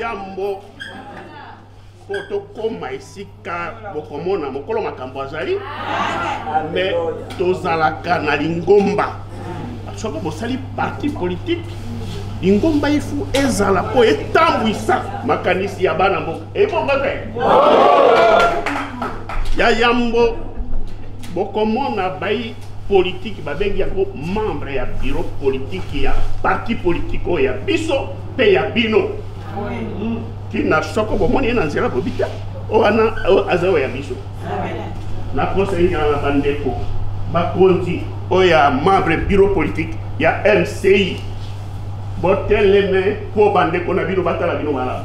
yambo mpo tokóma esika bokomona mokolo makambo azali me tozalaka na lingomba soki bosali parti politike lingomba ifu ezala mpo etambwisa makanisi ya bana mboka ebongo te ya yambo bokomona bai politiki babengi yango membre ya biro politiki ya parti politiki oyo ya biso mpe ya bino kina soko bomoni ye na nzela bobi te oyo wana aza oyo ya biso nakosengela na bandeko bakonzi oyo ya membre biro politiki ya mci boteleme mpo bandeko na bino batala bino malamu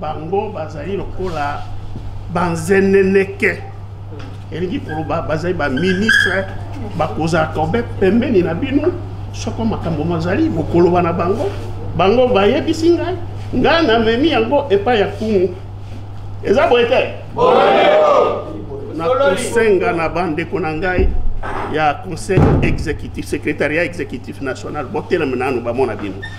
bango bazali lokola banzeneneke elingi koloba bazali baministre bakozala kobe pembeni na bino soko makambo mazali bokoloba na bango bango bayebisi ngai ngai namemi yango epai ya kumu eza boye te nakosenga na bandeko na ngai ya conseil exécutif secrétariat exécutif national botelema nanu bamona bino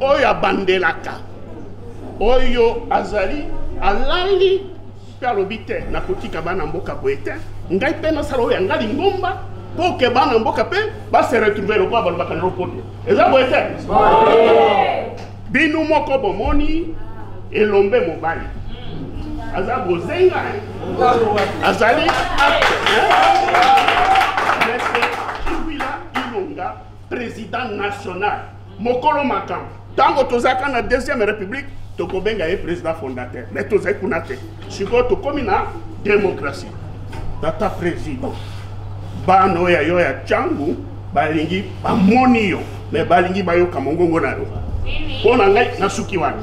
oyo abandelaka oyo azali alali mpe alobi te nakotika bana mboka boye te ngai mpe nasala oyo yanga lingomba mpo ke bana mboka mpe base retrouve lokola balobaka na lopoto eza boye te bino moko bomoni elombe mobali aza bozenga azali président national mokolo makambo ntango tozalaka na deuxième république tokobenga ye président fondateur mais tozali kuna te sikoyo tokómi na démocratie tata président bana oyo ya yo ya cangu balingi bamoni yo mais balingi bayoka mongongo na yo mpo na ngai nasuki wana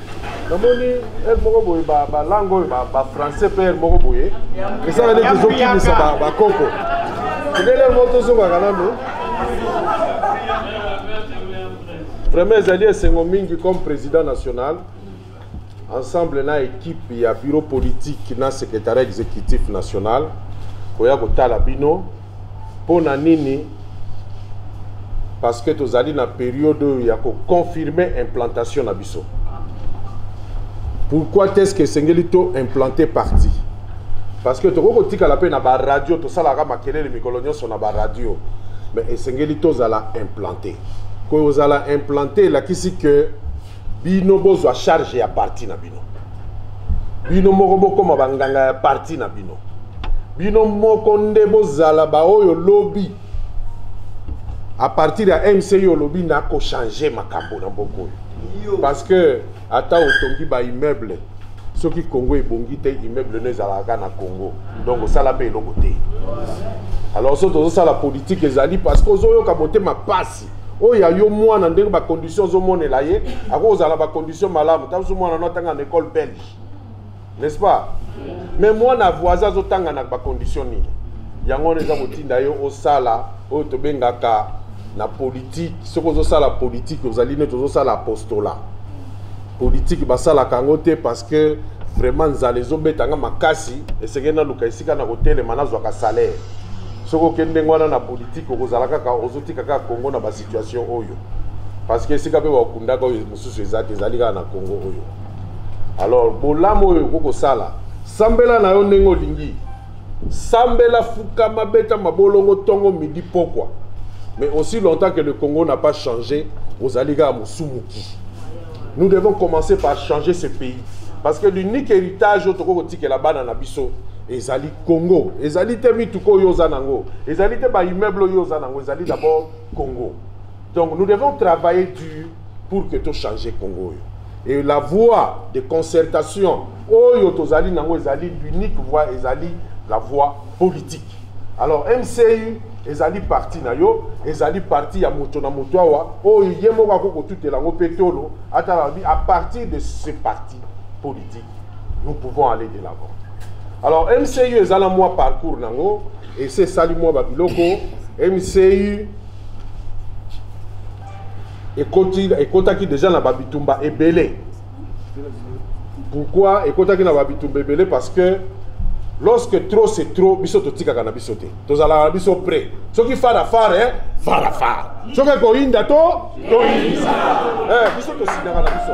namoni heure moko boye balangue oyo bafrançais mpe heure moko boye esala neti ezokimisa bakoko ndele moko tozongaka nano vraiment ezali esengo mingi comme président national ensemble na équipe ya bureau politique na secrétariat exécutif national koya kotala bino Mpo na nini? Parce que tozali na periode oyo ya ko confirmer implantation na biso. Pourquoi est-ce que esengeli to implanter parti? Parce que tokoki kotikala mpe na ba radio tosalaka makelele mikolo nyonso na ba radio mais esengeli tozala implanter. Kozala implanter elakisi que bino bozwa charge ya parti na bino bino moko bokoma banganga ya parti na bino bino moko nde bozala baoyo lobi à partir ya mci olobi nakochange makambo na mboka oyo parce que ata otongi baimmeuble soki congo ebongi te immeuble no ezalaka kaka na congo donc osala mpe eloko te alors so tozosala politike ezali parce que ozoyoka motema pasi oyo ya yo mwana ndenge bacondition ozomonela ye akoki kozala na bacondition malamu ntango so mwana no atanga na école belge n'est-ce pas mais mwana voisin azotanga na bacondition nini yango wana eza kotinda yo osala oyo tobengaka na politike soki ozosala politike ozali neti ozosala apostola politike basalaka yango te parce que vraiment nzala ezobeta nga makasi esengeli naluka esika na kotelema nazwaka salaire soki oke ndenge wana na politike okozala kaka ozotika kaka congo na basituation oyo parce que esika mpe bakundaka oyo mosusu eza te ezali kaka na congo oyo alors bolamu oyo okoki kosala sambela na yo ndenge olingi sambela fukama beta mabolongo ntongo midi pokwa mais aussi longtemps que le congo n'a pas changé ozali kaka mosumuki nous devons commencer par changer ce pays parce que l'unique héritage oyo tokoki kotikela bana na biso ezali Congo ezali te mituka oyo oza nango, ezali te ba immeuble oyo oza nango, ezali d'abord Congo. Donc nous devons travailler dur pour que to changer Congo oyo. Et la voie de concertation oyo tozali nango ezali l'unique voie ezali la voie politique. Alors MCU ezali parti na yo ezali parti ya moto na moto awa oyo ye moko akoki kotutela yango mpe tolo atala alobi à partir de ce parti politique nous pouvons aller de l'avant alors mcu eza na mwa parcours nango esi esali mwa babiloko mcu ekotaki déjà na babitumba ebele pourquoi ekotaki na babitumba ebele parce que lorsque trop c'est trop biso totikaka na biso te tozalaka na biso près soki fara fara eh, fara fara soki ekoyinda to toyinda eh, biso tosindaka na biso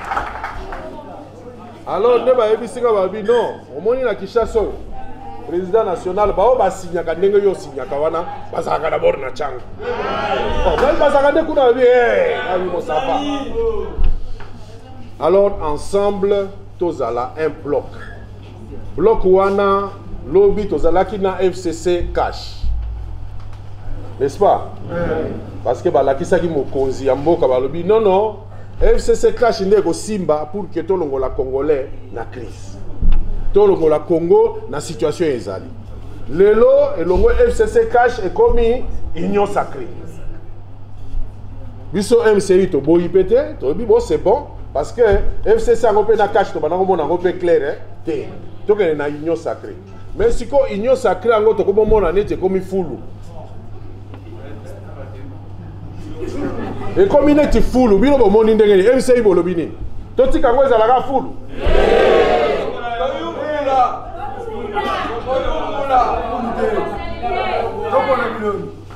alors nde bayebisi nga babi non omoni na kinshasa oyo président national baoyo basignaka ndenge yo osignaka wana bazalaka dabord na canga ngai bazalaka nde kuna babi abi mosapa alors ensemble tozala un bloc Bloc wana lobi tozalaki na FCC cash. N'est-ce pas? Parce que balakisaki mokonzi ya mboka balobi non non FCC cash nde ekosimba pour que tolongola congolais na crise. Tolongola Congo na situation ezali. Lelo elongo FCC cash ekomi union sacrée. biso mci toboyi mpe te toyebi bo c'est bon parce que fcc yango mpe na cache tobanda komona yango mpe claire eh, te tokende na union sacré mais sikoyo union sacré yango tokomomona neti ekomi fulu ekomi neti fulu bino bomoni ndenge nini mci bolobi nini totika yango ezalaka fulu Thank you.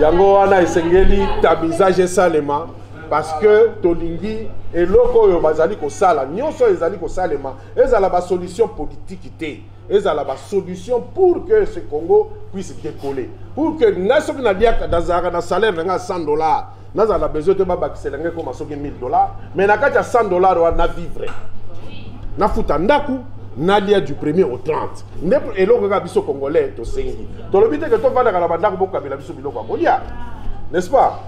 yango wana esengeli tamisage esalema parce que tolingi eloko oyo bazali kosala nyonso oyo ezali kosalema ezala basolution politiki te ezala basolution pour que ce congo puisse décoller pour que ngai soki naliaka nazalaka na salaire na ngai ya 100 dollars nazala na besoin te babakisela ngai ekoma soki 1000 dollars mais na kati ya 100 dollars wana na vivre nafuta ndako nalia du premier au 30 nde eloko kaka biso congolais tosengi tolobi te ke tofandaka na bandako bokabela biso biloko ya kolia n'est-ce pas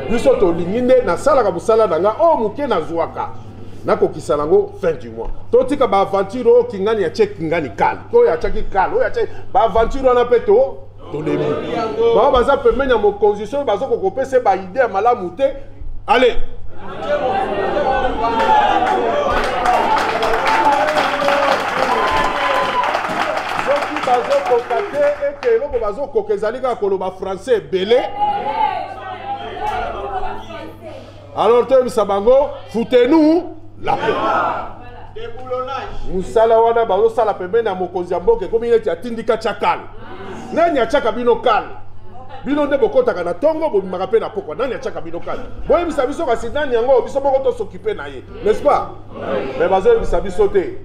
biso tolingi nde nasalaka mosala na nga oyo oh, moke nazwaka nakokisa nango fin du mois totika baaventure oyo oh, kingani ya tie kingani kale oyo atyaki kale oyo atyaki baaventure wana mpe to tolembi bango baza pembeni ya mokonzi soki baza kokopesa baide ya malamu te ale soki bazokoka te ete eloko bazokoka ezali kaka koloba français ebele alors toyebisa bango foutez-nous la paix mosala wana bazosala pembeni ya mokonzi ya mboka ekomi neti atindika tya kale nani atyaka bino kale bino nde bokotaka na ntongo bobimaka mpe na pokwa nani atyaka bino kale boyebisa biso kasi nani yango biso moko tosokipe na ye n'est-ce pas mais bazoyebisa biso te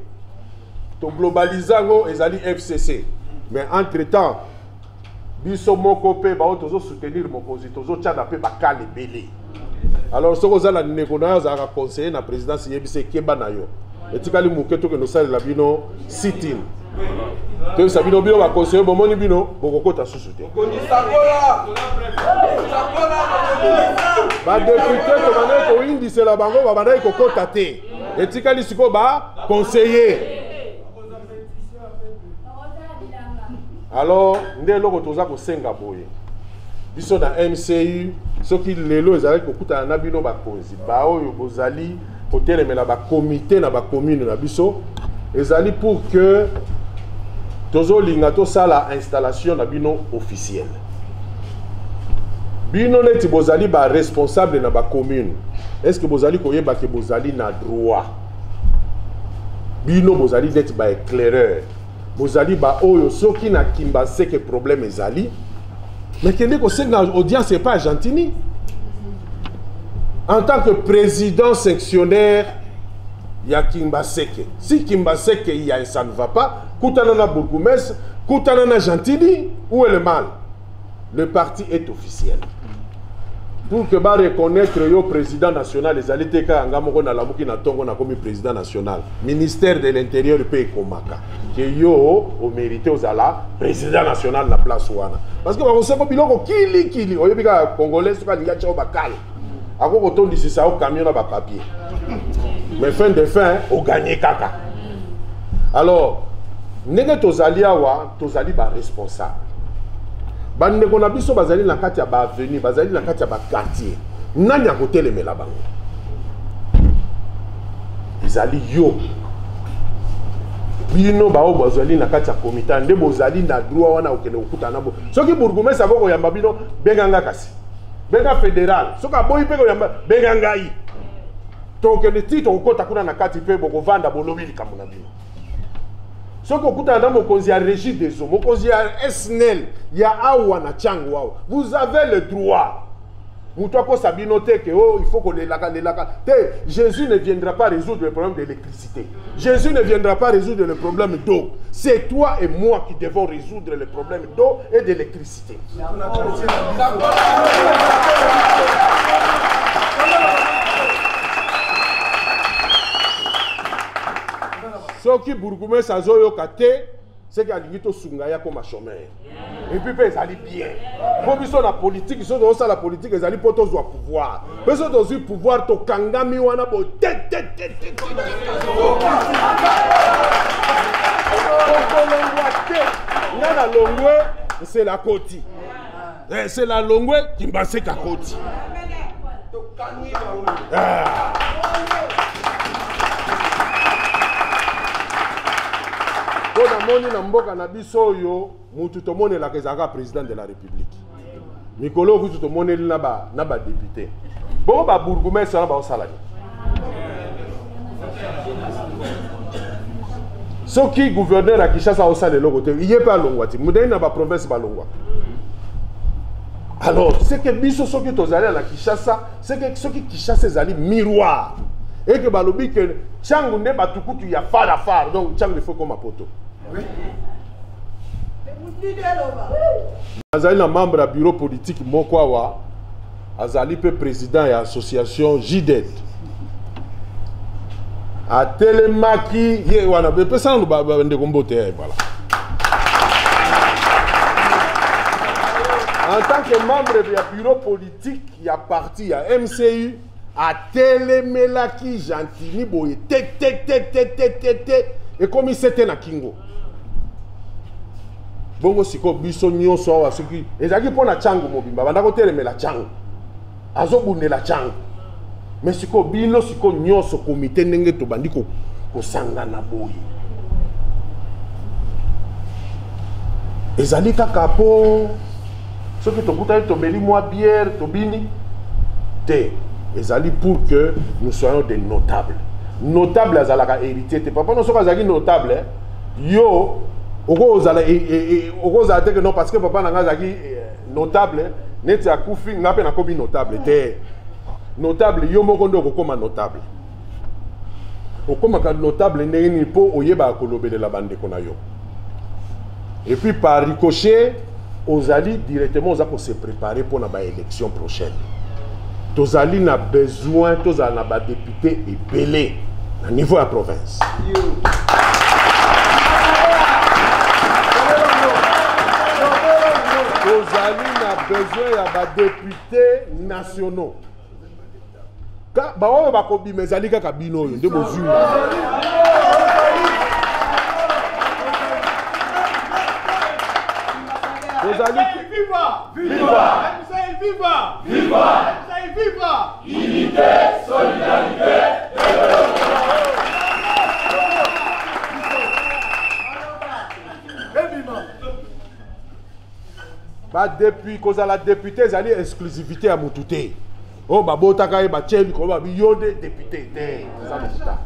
toglobalize yango ezali fcc mais entre temps biso moko mpe baoyo tozo soutenir mokonzi tozotyana mpe bakale ebele alors soki oza na ndeko na yo azalaka conseiller na présidence yebisa ekeba na yo etikali moke tokende osalela bino sitin toyebisa bino bino baconseiller bomoni bino bokokota susu te badepute tobandaki koyindisela bango babandaki kokota te etikali sikoyo baconseiller alors nde eloko toza kosenga boye biso na mcu soki lelo ezalaki kokutana na bino bakonzi baoyo bozali kotelemela bakomite na bakomune na biso ezali pour que tozolinga tosala installation na bino officielle bino neti bozali baresponsable na bacommune est ce que bozali koyeba ke bozali na droit bino bozali neti ba éclaireur bozali baoyo soki na kimba seke problème ezali mais kende kosenga audience epa argentini en tant que président sectionnaire ya kimbaseke si kimbaseke ya ça ne va pas kutana na bourgoumestre kutana na gentini ou est le mal le parti est officiel pour que ba reconnaître yo président national ezali te kaka nga moko nalamuki na ntongo nakomi président national ministère de l'intérieur mpe ekomaka ke yo omérite ozala président national na place wana parce que bakosoko biloko kilikili oyebi kaka congolais soki alingi atya yo bakale ako kotondisisa yo camion na bapapier mais fin de fin oganye kaka alors ndenge tozali awa tozali ba responsable bandeko na biso bazali na kati ya ba avenue bazali na kati ya ba quartier nani akotelemela bango ezali yo bino baoyo bazali na kati ya komita nde bozali na droit wana okende kokutana bo soki bourgumestre ako koyamba bino benga nga kasi benga fédéral soki aboyi mpe koyamba benga ngai tokende ti tokokota kuna na kati mpe bokovanda bolobi likambo na bino soki okutana na mokonzi ya régie des eaux mokonzi ya snel ya awa na tiango awa vous avez le droit moto akosa bino te ke o oh, il faut kolelaka lelaka te jésus ne viendra pas résoudre le problème de l'électricité jésus ne viendra pas résoudre le problème d'eau c'est toi et moi qui devons résoudre le problème d'eau et d'électricité soki bourgumese azoyoka te seke alingi tosunga ye akoma chomere epuis mpe ezali bien mpo biso na politiki soki tozosala politiki ezali mpo tozwa pouvoir biso tozwi pouvoir tokangami wana boye te te te te okolongwa te nga na longwe nsela koti nsela eh, longwe kimbaseka koti ah. mpo namoni na mboka na biso oyo mutu tomonelaka ezalaka président de la république mikolo oyo kutu tomoneli na badepute bongo babourgoumestre wana baosala nini soki gouverneur ya kinshasa aosala eloko te ye mpe alongwa te modali na baprovince balongwa alors seke biso soki tozali na kinshasa seke soki kinshasa ezali miroir eke balobi ke ntango nde bato kutu ya far ya far donc ntango efo ekoma poto nazali na membre ya bureau politique moko awa azali mpe président ya association jided atelemaki ye wana epesa nanu bandeko mbote ya ebala en tant que membre ya bureau politique ya parti ya mcu atelemelaki gentini boye te te te te te te te ekomi sete na kingo bongo sikoyo biso nyonso awa soki ezalaki mpo na cango mobimba banda kotelemela cango azobundela cango me sikoyo bino sikoyo nyonso komite ndenge tobandi kosangana boye ezali kaka mpo soki tokutani tomeli mwa bière tobini te ezali pour que nous soyons des notables notable azalaka héritier te papa no soki azalaki notable eh, yo okozala eh, eh, okozala te ke non parce que papa na ngai azalaki notable neti akufi ngai mpe nakomi notable te notable yo moko nde okokoma notable okomaka notable ndenge nini mpo oyebaka kolobelela bandeko na yo et puis par ricochet ozali directement oza ko se préparer mpo na baélection prochaine tozali na besoin tozala na badepute ebele na niveau ya province tozali na besoin ya badepute nationaux baoyo bakobima ezali kaka bino oyo nde bozwi tozali unité solidarité badepuis kozala depute ezali exclusivité ya motu te oyo babotaka ye batye likolo babi yo nde depute te eza lokuta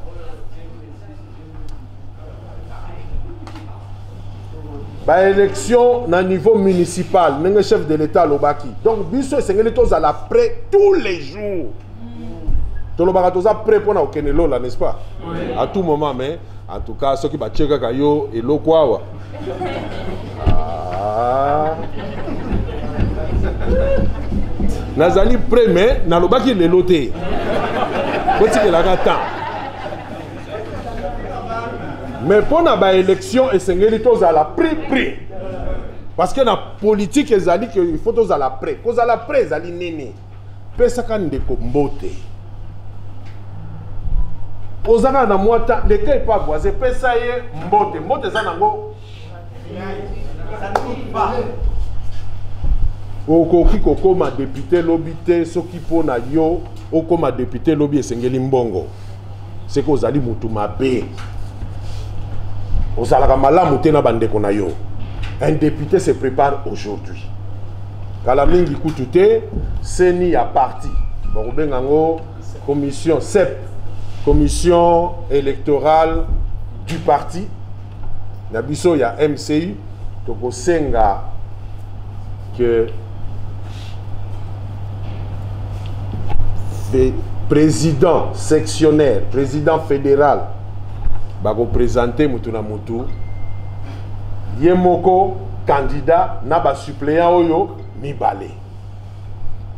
baélection na niveau municipal ndenge chef de l'état alobaki donc biso esengeli tozala près tous les jours tolobaka toza près mpo na kokende lola n'est-ce pas à tout moment mais en tout cas soki batie kaka yo eloko awa Ah. nazali prêt mais nalobaki lelo te botikelaka temps mais mpo na baélection esengeli tozala prix prix parce que na politique ezali ke il faut tozala prêt kozala prêt ezali nini pesaka ndeko mbote ozaka na mwata leka epa voise pesa ye mbote mbote eza nango okoki kokoma depute lobi te soki mpo na yo okoma depute lobi esengeli mbongo seke ozali motu mabe ozalaka malamu te na bandeko na yo un député se prépare aujourd'hui kala mingi kutu te seni ya parti bakobenga yango commission cep commission électorale du parti na biso ya mci tokosenga que président sectionnaire président fédéral bakopresente motu na motu ye moko candidat na basuppléant oyo mibale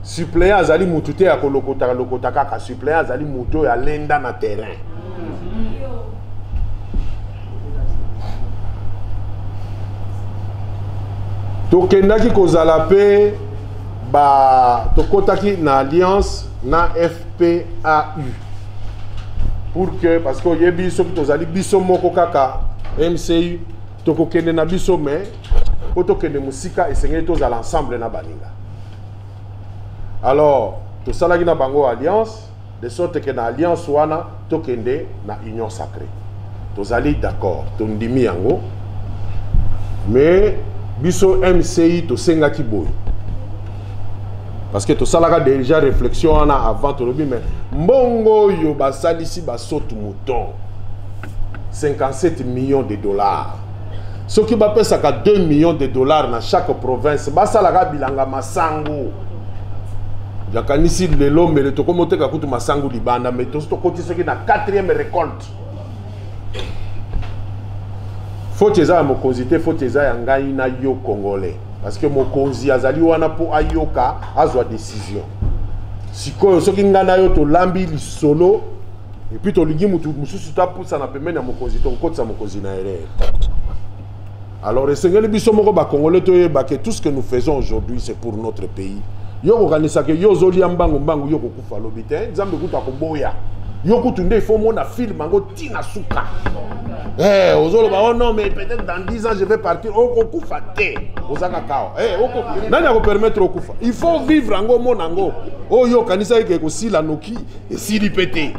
suppléant azali motu te ya kolokotaka lokota kaka suppléant azali motu oyo alenda na terrain tokendaki kozala mpe ba tokotaki na alliance na fpau pour que parce que oyebi soki tozali biso moko kaka mcu tokokende na biso mais mpo tokende mosika esengeli tozala ensemble na baninga alors tosalaki na bango alliance De sorte que na alliance wana tokende na union sacree. Tozali d'accord, tondimi yango. Mais biso MCI tosengaki boye. parce que tosalaka déjà réflexion wana avant tolobi mais mbongo oyo basalisi basotu mouton 57 millions de dollars soki bapesaka 2 millions de dollars na chaque province basalaka bilanga masangu nakanisi lelo mbele tokomi oteka kutu masangu libanda me tosi tokoti soki na 4e récolte foti eza ya mokonzi te foti eza ya ngai na yo congolais parce que mokonzi azali wana mpo ayoka azwa décision sikoyo soki ngai na yo tolambi lisolo epuis tolingi motu mosusu tapusana pembeni ya mokonzi tokokotisa mokonzi na erreur alors esengeli biso moko bakongole toyeba ke tout ce que nous faisons aujourd'hui c'est pour notre pays yo okokanisa ke yo ozolia mbangu mbangu yo okokufa lobi te nzambe kutu akoboya yo kutu nde ifo omona filme yango ti na suka hey, eh, ozoloba oh non mais peut-être dans 10 ans je vais partir okokufa oh, te ozanga kawa hey, eh, oko... nani akopermettre okufa il faut vivre yango omona yango oyo oh, okanisaki ke ekosila noki esili mpe te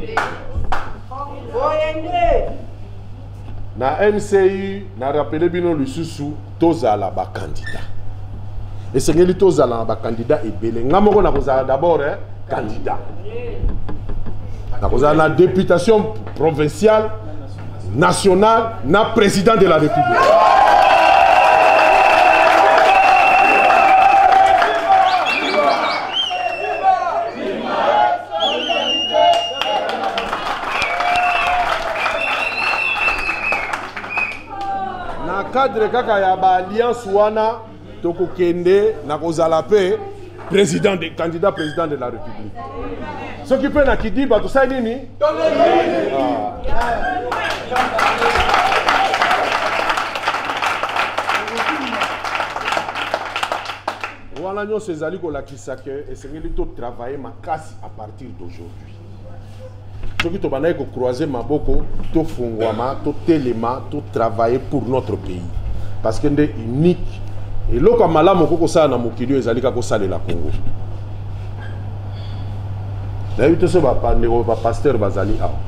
na mcu na rappele bino lisusu tozala bakandida esengeli tozala na bakandida ebele nga moko nakozala d'abord eh, candidat nakozala na députation provinciale national na président de la république na cadre kaka ya baalliance wana tokokende na kozala mpe président de candidat président de la république soki mpe na kidiba tosali nini wana nyonso ezali kolakisa ke esengeli totravaille makasi à partir d'aujourd'hui soki tobandaki kocroise maboko tofungwama totelema totravaille pour notre pays parce que nde unique eloko ya malamu okoki kosala na mokili oyo ezali kaka kosalela kongo nayebi te so bandeko bapaster bazali awa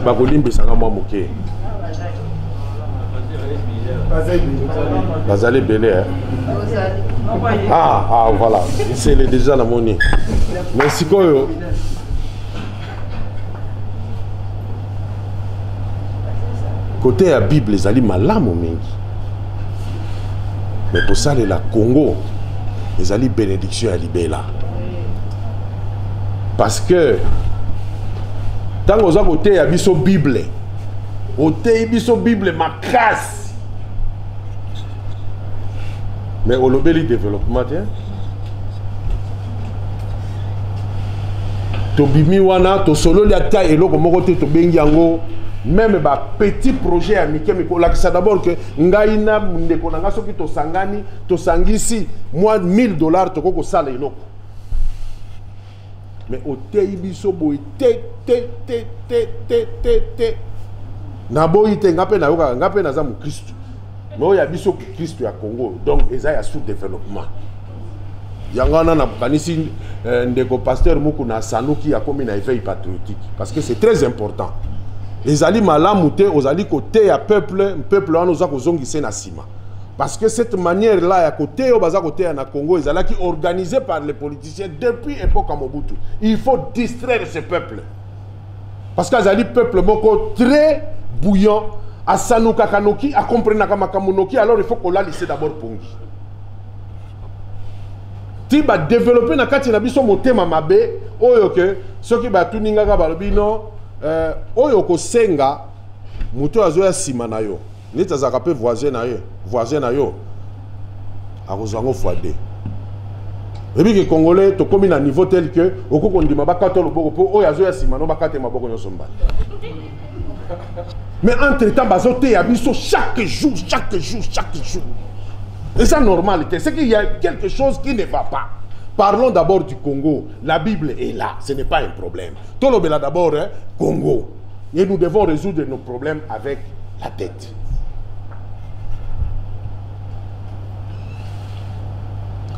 bakolimbisa nga mwa moke bazali ebele eh? ah, ah, voilà nsele deja namoni mais sikoyo kote ya bible ezali malamu mingi mais kosalela congo ezali bénédiction ya libela parce que ntango oza koteya biso bible oteyi biso bible makasi mais olobeli développement te tobimi wana tosololi ata eloko moko te tobengi yango meme bapetit projet ya mike mike olakisa d'abord ke ngai na ndeko na ngai soki tosangani tosangisi mwa 1000 dollars tokoki kosala eloko mais oteyi biso boye te te te te te te te naboyi te ngai mpe nayokaka ngai mpe naza mokristu mais oyo ya biso kristo ya congo donc eza ya sous développement yango wana nakanisi euh, ndeko pasteur mukuna asanuki akomi na éveil patriotique parce que c'est très important ezali malamu te ozali koteya peuple peuple wana oza kozongise na nsima parce que cette manière là ya koteya oyo baza koteya na congo ezalaki organisé par les politiciens depuis époque ya mobutu il faut distraire ce peuple parce que azali peuple moko très bouillant asanukaka noki akomprenaka makambo noki alors il faut kolalise d'abord pongi ti badeveloppe na kati na biso motema mabe oyo ke soki batuni ngaka balobi no euh, oyo okosenga moto oyo azoya nsima na yo neti azalaka mpe voisin na ye voisin na yo akozwa yango fois de oyebi ke congolais tokómi na niveau tel que okoki kondima bakata loboko mpo oyo azoya nsima no bakate maboko nyonso mbala mais entre temps bazoteya biso chaque jour chaque jour chaque jour eza normal te ce qu'il y a quelque chose qui ne va pas parlons d'abord du congo la bible est là ce n'est pas un problème tolobela d'abord eh, congo Et nous devons résoudre nos problèmes avec la tête.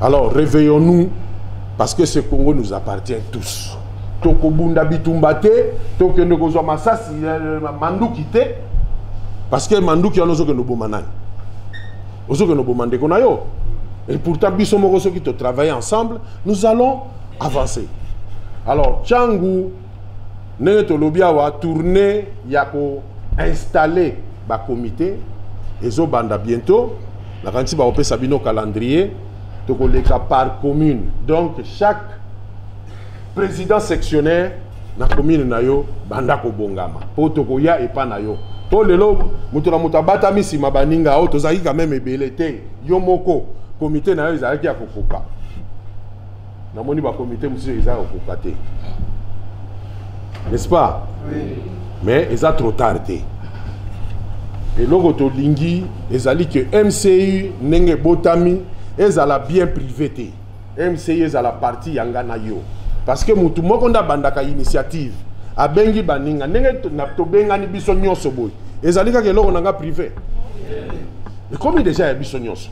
Alors réveillons-nous parce que ce Congo nous appartient tous. tokobunda bitumba te tokende kozwa masasi euh, manduki te parce que manduki wana ozokende oboma nani ozokende oboma ndeko na yo et pourtant biso moko soki totravaille ensemble nous allons avancer alors changu ndenge tolobi awa tournée ya ko installer ba comité ezo banda bientôt nakanisi bakopesa bino calendrier tokoleka par commune donc chaque président sectionnaire na commune na yo banda kobongama mpo tokoya epa na yo to lelo moto na moto abatami nsima baninga oyo tozalaki quand même ebele te yo moko komite na yo ezalaki ya kokoka namoni bakomite mosusu eza ya kokoka te n'est-ce pas oui. mais eza trop tard te eloko tolingi ezali ke mcu ndenge ebotami ezala bien privé te mcu ezala parti ya nga na yo parce que motu moko nde abandaka initiative abengi baninga ndenge tobengani biso nyonso boye ezali kaka eloko na nga privé ekomi deja ya biso nyonso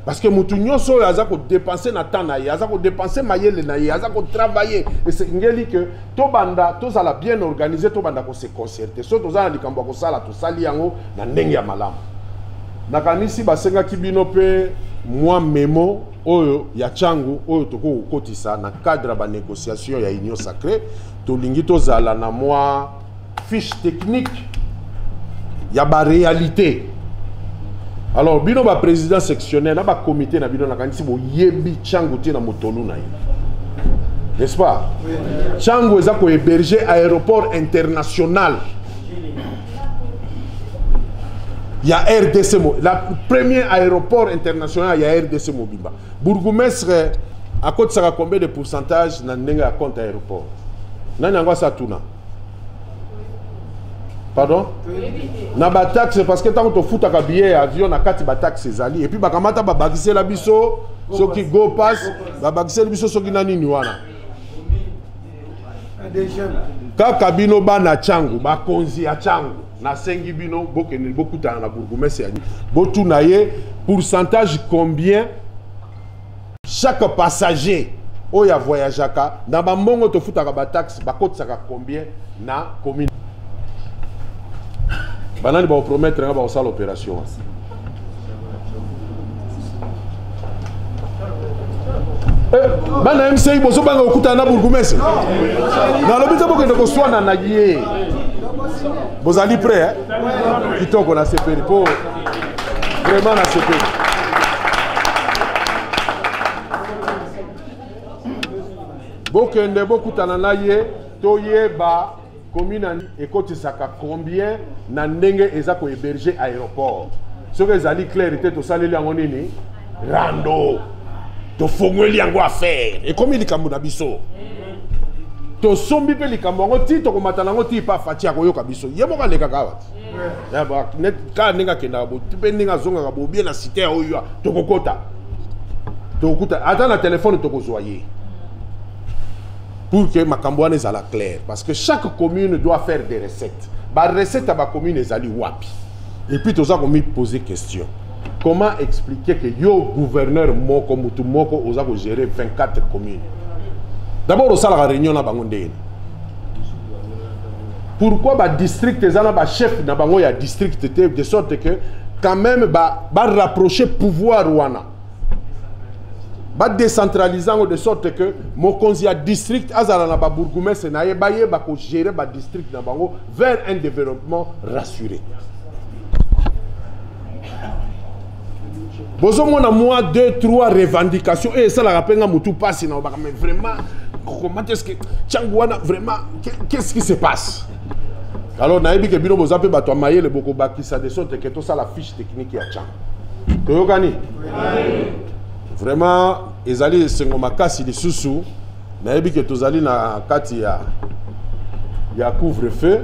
parce que moto nyonso oyo aza kodepense na temps na ye aza kodepense mayele na ye aza kotravaille esengeli ke tobanda tozala bien organise tobanda kose concerte so toza na likambo ya kosala tosali yango na ndenge ya malamu nakanisi basengaki bino mpe mwa memo oyo ya ntango oyo tokoki kokotisa na cadre ya banégociation ya union sacrée tolingi tozala na mwa fiche technique ya ba réalité alors bino ba président sectionnel na ba comité na bino nakanisi boyebi changu te na motolu na ye n'est-ce pas changu eza kohéberge aéroport international ya rdc mo la premier aéroport international ya rdc mobimba Bourgoumestre akotisaka combien de pourcentage na ndenge ya compte ya aéroport nani yango asa tuna pardon na bataxe parce que ntango tofutaka billet ya avion na kati bataxe ezali epuis bakamata babakisela biso soki go pass babakiseli biso soki na nini wana kaka bino bana changu bakonzi ya changu nasengi bino bokende bokutana na bourgmestre ya botuna ye pourcentage combien chaque passager oyo avoyageaka na bambongo tofutaka bataxe bakotisaka combien na commune banani bakopromettre nga bakosala opération Eh, bana mci bozobanga kokutana na bourgumese nalobi te bokende koswana na ye bozali prêt eh? kitoko na sepeli mpo vraiment na sepeli bokende bokutana na ye toyeba commune ekotisaka combien na ndenge eza ko héberger aéroport soki ezali claire te tosaleli yango nini rando tofongoli yango affaire ekomi likambo na biso tosombi mpe likambo yango ti tokomata na yango ti pa faci akoyoka biso ye moko alekaka awa ti kaka ndenge akendaka mpe ndenge azongaka bobie na site ya oyo tokokota tokokuta ata na telefone tokozwa ye pour que makambo wana ezala clair parce que chaque commune doit faire des recettes barecette ya bacommune ezali wapi et puis toza komipose question comment expliquer que yo gouverneur moko mutu moko oza kogérer 24 communes d'abord osalaka réunion na bango ndenge pourquoi badistrict eza na bachef na bango ya district te de sorte que quand même barapproche ba pouvoir wana ba décentraliser yango de sorte que mokonzi ya district azala na babourgoumestre na ye bayeba kogere badistrict na bango vers un développement rassuré bozomona mwa 2 3 revendication oyo esalaka mpe nga motu mpasi na obaka mais vraiment comment est ce que ntango wana vraiment qu'est ce qui se passe alors nayebi ke bino boza mpe bato ya mayele bokobakisa de sorte ke tosala fiche technique ya ntango toyokani vraiment ezali esengo makasi lisusu nayebi ke tozali na kati ya ya couvre feu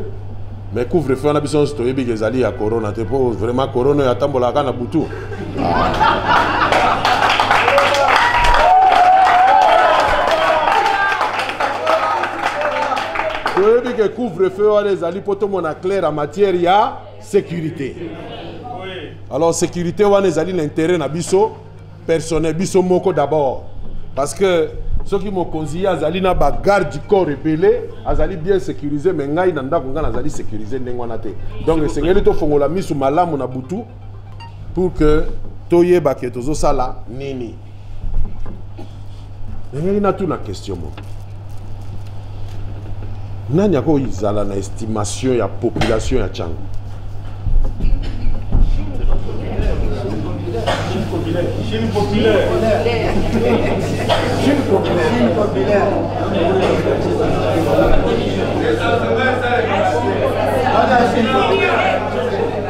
mais couvre feu wana biso nyonso toyebi ke ezali ya corona te mpo vraiment corona oyo atambolaka na butu toyebi ke couvre feu wana ezali mpo tomona claire ya matière ya securite alors securite wana ezali na intérêt na biso personnel biso moko d'abord parce que soki mokonzi ye azali na bagarde du corps ebele azali bien sécurisé mais ngai na ndako ngai nazali sécurisé ndenge wana te donc esengeli tofongola miso malamu na butu pour que toyeba ke tozosala nini nalingaki natuna question moko nani akozala na estimation ya population ya changu Chine populaire. Chine populaire. Chine populaire. Chine populaire.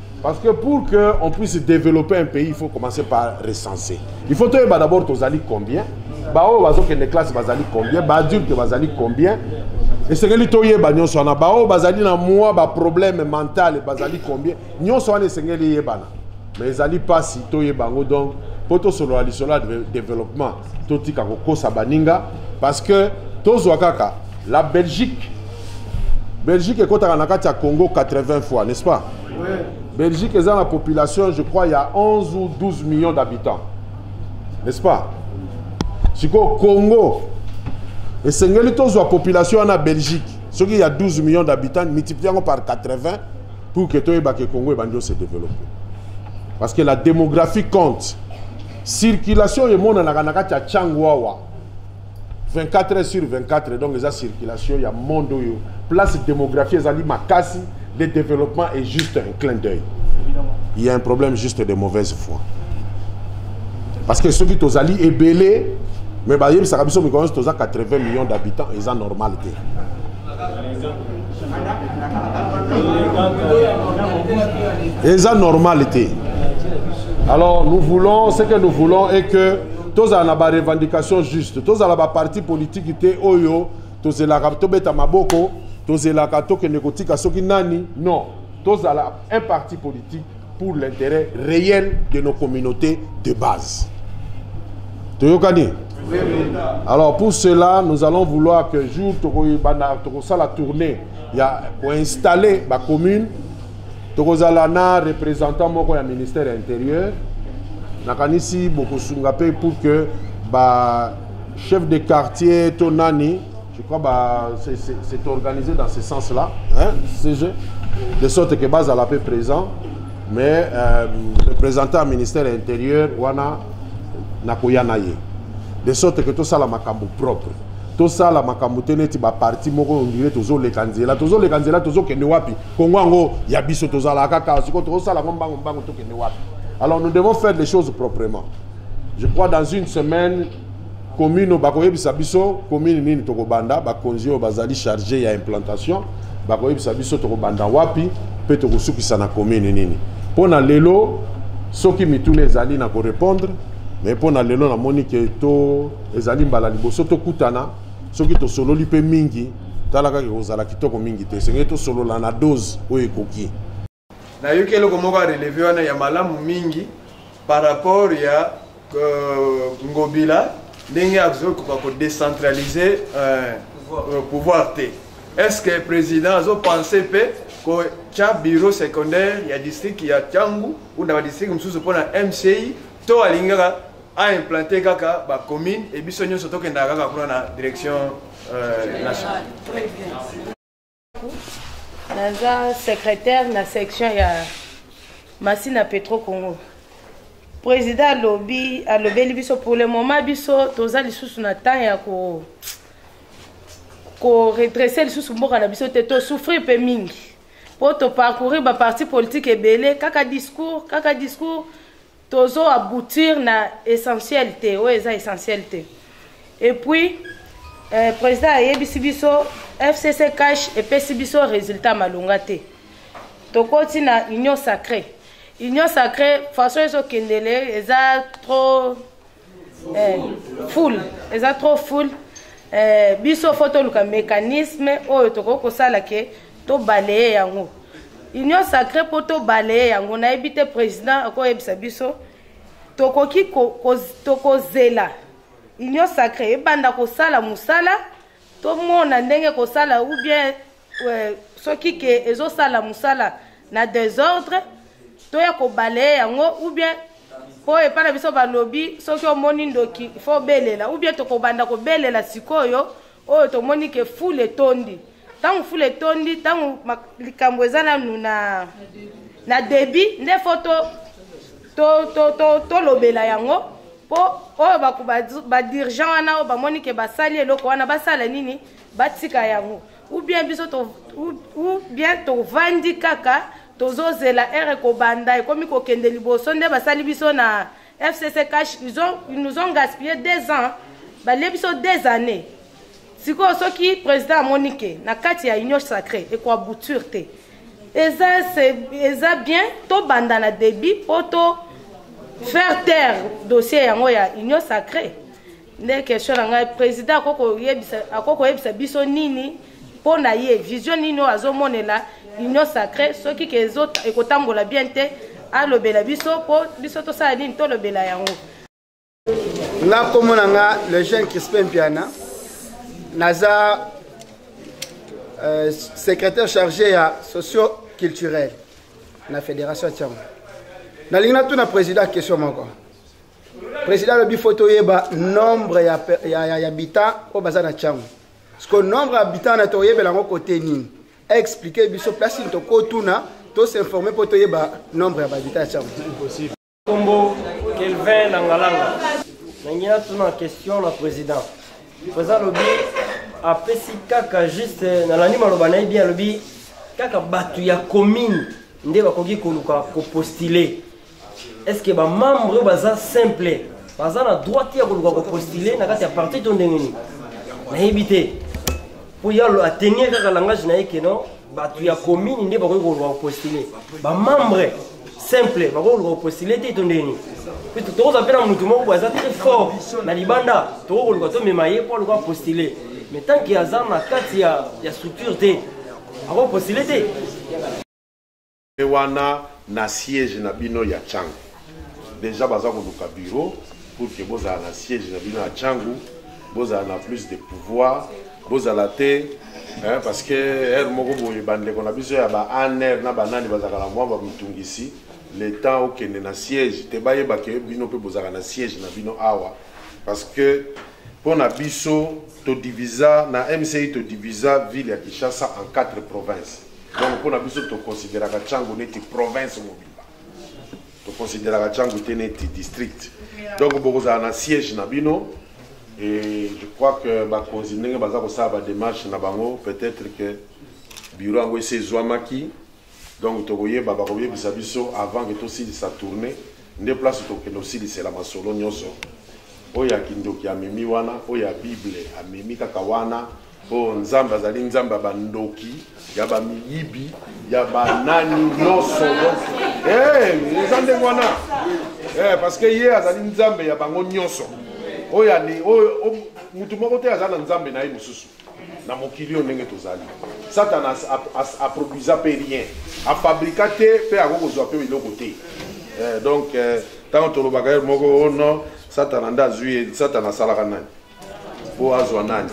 Parce que pour qu'on puisse développer un pays, il faut commencer par recenser. Il faut que d'abord tozali combien baoyo bazokende classe bazali combien baadulte bazali combien esengeli toyeba nyonso wana baoyo bazali na mwa baproblème mental bazali combien nyonso wana esengeli eyebana mais ezali mpasi toyeba yango donc mpo tosolola lisolo ya développement totika kokosa baninga parce que tozwa kaka la belgique belgique ekotaka na kati ya congo 80 fois n'est-ce pas oui. belgique eza na population je crois ya 11 ou 12 millions d'habitants n'est-ce pas sikoyo congo esengeli tozwa population wana belgique soki ya 12 millions d'habitants multiplie yango par 80 pour que toyeba ke congo ebandi ose développer parce que la démographie compte circulation oyo emonanaka na kati ya changu awa 24 heures sur 24 donc eza circulation ya monde oyo place démographie ezali makasi le développement est juste un clin d'œil il y a un problème juste de mauvaise foi parce que soki tozali ebele mais bayebisaka biso mikolo nyonso toza 80 millions d'habitants eza normal te eza normal te alors nous voulons ce que nous voulons est que tozala na barevendication juste tozala baparti politiki te oyo tozelaka tobeta maboko tozelaka tokende kotika soki nani non tozala un parti politique pour l'intérêt réel de nos communautés de base toyokani alors pour cela nous allons vouloir que jour tokoyebana tokosala tournée ya koinstalle bacommune tokozala na représentant moko ya ministère ya intérieur nakanisi bokosunga mpe pour que ba chef de quartier to nani Je crois bah, c'est organisé dans ce sens-là, hein, CG, de sorte que base à la paix présent, mais euh, représentant ministère intérieur, wana nakoya na ye. De sorte que tout ça la makambo propre. Tout ça la makambo te neti ba parti moko on dirait tozo leka nzela, tozo leka nzela, tozo kende wapi? Kongo yango ya biso tozala kaka siko tozo sala ngo mbango mbango to kende wapi? Alors nous devons faire les choses proprement. Je crois dans une semaine commune bakoyebisa biso commune nini tokobanda bakonzi oyo bazali charge ya implantation bakoyebisa biso tokobanda wapi mpe tokosukisa na commune nini mpo na lelo soki mituna ezali na korepondre mais mpo na lelo namoni ke to ezali mbala liboso tokutana soki tosololi mpe mingi tala kaka ekozala kitoko mingi te esengeli tosolola na dose oyo ekoki nayoki eloko moko ya releve wana ya malamu mingi par rapport ya euh, ngobila ndenge azokoka kodecentralize euh, euh, pouvoir te est ce que président azopense mpe kotya bureau secondaire ya district ya tiangu ou na badistrict mosusu mpo na mci to alingi kaka aimplante kaka bacommune e biso nyonso tokendaka kaka kuna na direction euh, nationale naza secrétaire na section ya masina petro congo président alobi alobeli biso pour le moment biso toza lisusu na temps ya ko koredresse lisusu mboka na biso te tosouffrir mpe mingi mpo toparcourir baparti politique ebele kaka discours kaka discours tozo aboutir na essentiel te oyo eza essentiel te et puis euh, président ayebisi biso fcc cash epesi biso résultat malonga te tokoti na union sacrée union sacrée façon ezokendele eza trop eh, full eza trop full eh, biso fo toluka mécanisme oyo tokoki kosala ke tobaleye yango union sacré mpo tobaleye yango nayebi te président akoyebisa biso tokoki tokozela ko, ko union sacré ebanda kosala mosala tomona ndenge kosala ou bien euh, soki ke ezosala mosala na desordre toya kobalaye yango ou bien mpo epai na biso balobi soki omoni ndoki fo obelela ou bien tokobanda kobelela sikoyo oyo tomoni ke fule etondi ntango fule etondi ntango likambo eza nanu na na debi nde fo tolobela to, to, to, yango mpo oyo badirigant wana oyo bamoni ke basali eloko wana basala nini batika yango ou bien biso to ou bien tovandi kaka tozozela ere kobanda ekomi kokende liboso nde basali biso na fcc cash ils, ont, ils nous ont gaspillé deux ans balie biso deux années sikoyo soki président amoni ke na kati ya union sacré ekoabouture te eza, eza bien tobanda na débit mpo to faire taire dossier yango ya union sacré nde question na ngai président akoki koyebisa biso nini mpo na ye vision nini oyo azomonela union sacré soki ke ekotambola bien te alobela biso mpo biso tosala nini tolobela yango nga nkombo na nga le jeune crispin mpiana naza euh, secrétaire chargé ya socio culturel na fédération ya tiango nalingi natuna président question moko président alobi fo toyeba nombre ya, ya, ya, ya bitan oyo baza na ntango siko nombre ya bitan na toyebela yango kote nini explike biso place nini tokotuna tosinforme mpo toyeba nombre ya babita ya ntango kombo kelvin langalanga nangi natuna question na président président alobi apesi kaka juste nalandi maloba na ye bien alobi kaka bato ya commune nde bakoki koluka kopostule est ce que bamembre oyo baza simple baza na droit te ya koluka kopostule na kati ya parti to ndenge nini nayebi te mpo ye atenir kaka langage na ye keno bato ya commune nde bakoki koluka kopostule bamembre simple bakoki koluka kopostule te to ndenge nini tokozwa mpe na motu moko boye aza très fort na libanda tokoki koluka tomema ye mpo aluka postule mais tant ke aza na kati ya structure te akopostule te Pe wana na siège na bino ya Tshangu. Deja baza koluka bureau pour que bozala na siège na bino ya Tshangu, bozala na plus de pouvoir, bozala te hein, parce que heure moko boye bandeko na biso ya ba ANR na banani bazalaka na mwa bamitungisi le temps okende na siège te bayeba ke bino mpe bozalaka na siège na bino awa parce que mpo na biso todivisa na mci todivisa ville ya kinshasa en 4 provinces donc mpo na biso toconsideraka cango neti province mobimba toconsideraka cango te neti district donc bokozala na siège na bino et je crois que bakonzi ndenge baza kosala bademarche na bango peut-être que bureau yango esi ezwamaki donc tokoyeba bakoyebisa biso avant ke tosilisa tourne nde place tokokende kosilisela masolo nyonso oyo ya kindoki amemi wana oyo ya bible amemi kaka wana po nzambe azali nzambe ya bandoki ya bamiyibi ya banani nyonso eh, eza ndenge wana eh, parce que ye azali nzambe ya bango nyonso oyo oyo motu moko te aza na nzambe na ye mosusu na mokili oyo ndenge tozali satana aproduisa mpe rien afabrika te mpe akoki kozwa mpe eloko te eh, donc ntango tolobaka ye moko ono oh satana nde azwi ye satana asalaka nani mpo azwa nani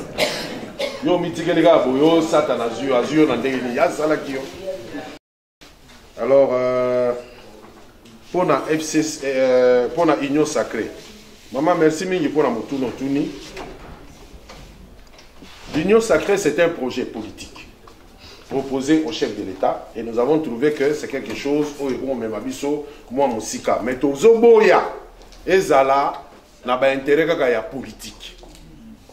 yo omitikeli kaka boye yo satana azwi yo azwi yo na ndenge nini asalaki yo alors euh, mpo na fc euh, mpo na union sacré mama merci mingi mpo na motuna otuni l'union sacré c'est un projet politique proposé au chef de l'état et nous avons trouvé que c'est quelque chose oyo ekomomema biso mwa mosika mais tozoboya ezala na ba intérêt kaka ya politique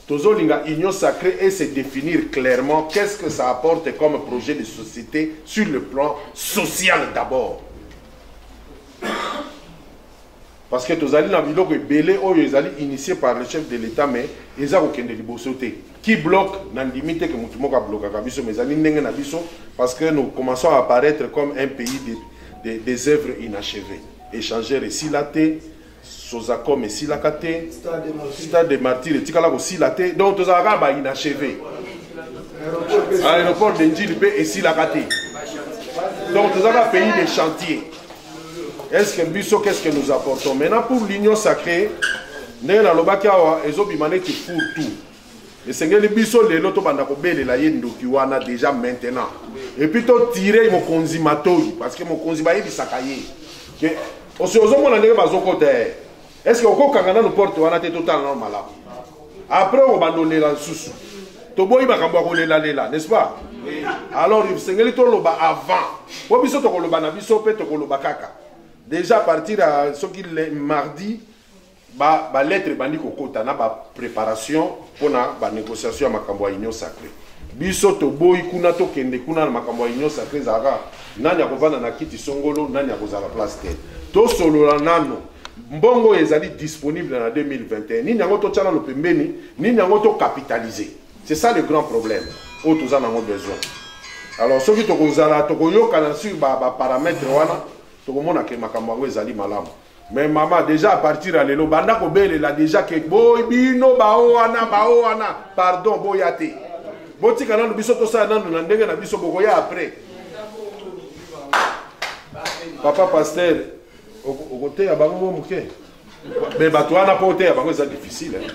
tozolinga union sacrée et se définir clairement qu'est-ce que ça apporte comme projet de société sur le plan social d'abord parce que tozali na biloko ebele oyo ezali initié par le chef de l'état mais eza kokende liboso te qui bloque nandimi te ke motu moko ablokaka biso mais ezali ndenge na biso parce que nous commençons à apparaître comme un pays de, de, des œuvres inachevées échanger esila te sozacom esilaka te stade de martyr etikala kosila te donc tozala kaka bainacheve aéroport de njili mpe esilaka te donc toza kaka pays de chantier est ce que biso qu'est ce que nous apportons maintenant pour l'union sacrée ndenge nalobaki awa ezobima neti four tout esengeli biso lelo tobanda kobelela ye ndoki wana deja maintenant epuis totire mokonzi matoi parce que mokonzi bayebisaka ye ke osi ozomona ndenge bazokota ye estce okokanga nanu porte wana te totala nano malamu après okobanda olela lisusu toboyi makambo ya kolelalela n'est-ce pas alors esengeli toloba avant mpo biso tokoloba na biso mpe tokoloba kaka déjà à partir ya soki mardi Ba, ba lettre ebandi kokota na ba preparation mpo na ba négociation ya makambo ya union sacrée. Biso toboyi kuna tokende kuna na makambo ya union sacrée ezalaka nani akovanda na kiti songolo, nani akozala place te. Tosolola nano mbongo ezali disponible na 2021 nini yango totya nano pembeni, nini yango tokapitalize. C'est ça le grand problème oyo toza nango besoin. Alors soki tokozala tokoyokana sur ba, ba paramètre wana tokomona ke makambo yango ezali malamu. mais mama deja apartir ya lelo banda kobelela deja ke boy bino bao wana bao wana pardon boya te botika nanu biso tosala nanu na ndenge na biso bokoya après papa paster okoteya bango mo moke me bato wana mpo oteya bango eza difficile eh.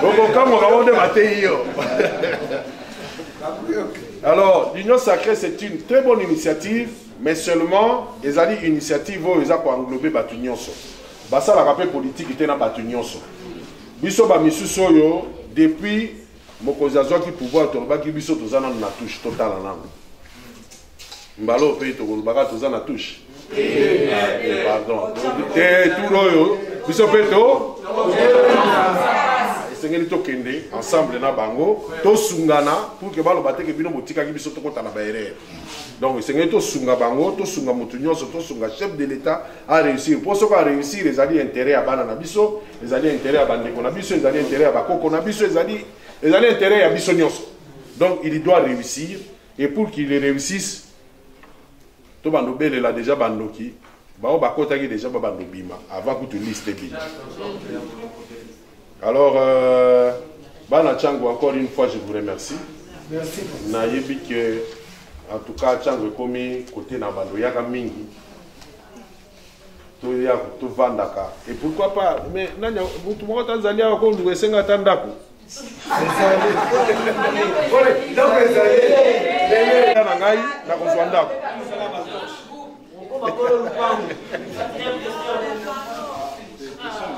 okokamwaka bango nde bateyi yo alors l'union sacrée c'est une très bonne initiative mais seulement ezali initiative oyo eza ko englober bato nyonso basalaka mpe politiki te na bato nyonso biso bamisusu oyo depuis mokonzi azwaki pouvoir tolobaki biso toza nano na touche totala nano mbala oyo mpe tokolobaka toza na touche pardon te tour oyo biso mpe to esengeli tokende ensemble na bango tosungana pour ke baloba teke bino botikaki biso tokota na baerreur donc esengeli tosunga bango tosunga motu nyonso tosunga chef de l'état aréussir mpo soki aréussir ezali intérêt ya bana na biso ezali intérêt ya bandeko na biso ezali intérêt ya bakoko na biso ezali ezali intérêt ya biso nyonso donc il doit réussir et pour qu'il réussisse tobanda obelela déjà bandoki baoyo bakotaki déjà babanda obima avant kutu liste ebima Alors, euh, Bana Chango, encore une fois, je vous remercie. Merci. Nayebi que, en tout cas, Chango est commis côté Nabando, Yaka Mingi. toya tovandaka et pourquoi pas mais nani motu moko ata azali awa koluka esenga ata ndako na ngai nakozwa ndako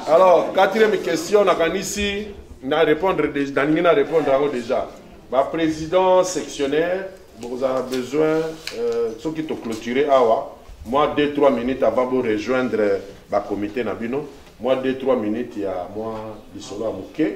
alors quatrième question nakanisi na répondre nalingi na répondre yango déjà baprésident sectionnaire bokozala besoin euh, soki toclôture awa mwa 2 3 minutes avant borejoindre bacomité na bino mwa 2 3 minutes ya mwa lisolo ya moke